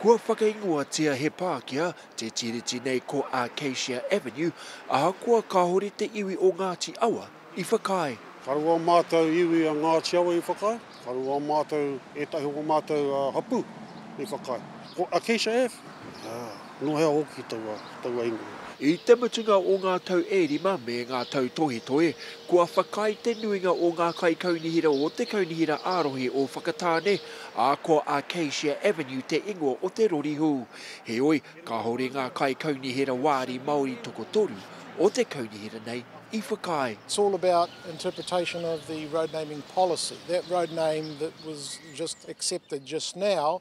Kua whakaingoatia he Pākehā te Tiriti nei ko Acacia Avenue, ahakoa kāore te iwi o Ngāti Awa i whakaae. Karu ō mātou iwi a Ngāti Awa i whakaae, karu ō mātou, ētahi o mātou hapū i whakaae. Ko Acacia Ave? Ā. Nō hea hoki taua, taua ingoa? I te mutunga o ngā tau e rima me ngā tau tohetohe, kua whakaae te nuinga o ngā kaikaunihera o te Kaunihera ā-Rohe o Whakatāne, ā, ko Acacia Avenue te ingoa o te rori hou. Heoi, kāore ngā kaikaunihera wāri Māori tokotoru o te kaunihera nei i whakaae. It's all about interpretation of the road naming policy. That road name that was just accepted just now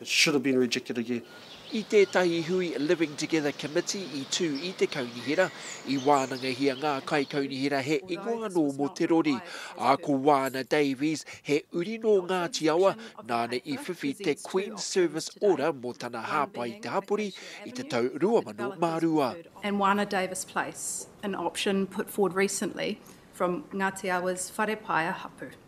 It should have been rejected again. I tētahi hui Living Together Committee i tū i te kaunihera, i wānangahia ngā kaikaunihera he ingoa anō mō te rori, ā, ko Waana Davies, he uri nō Ngāti Awa, nāna i whiwhi te Queen's Service Order mō tana hāpai i te hapori i te tau 2002. and Waana Davies Place, an option put forward recently from Ngati Awa's Wharepaea hapu.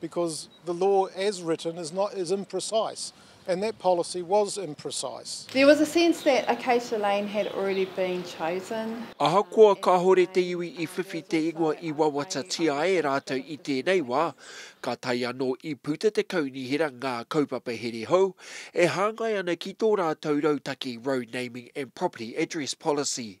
Because the law as written is not is imprecise and that policy was imprecise. There was a sense that Acacia Lane had already been chosen. Ahakoa kāore te iwi i whiwhi te ingoa i wawatatia e rātou i tēnei wā, ka tae anō i puta te kaunihera ngā kaupapa here hou e hāngai ana ki tō rātou rautaki Road Naming and Property Address Policy.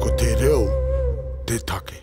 Ko te reo te take.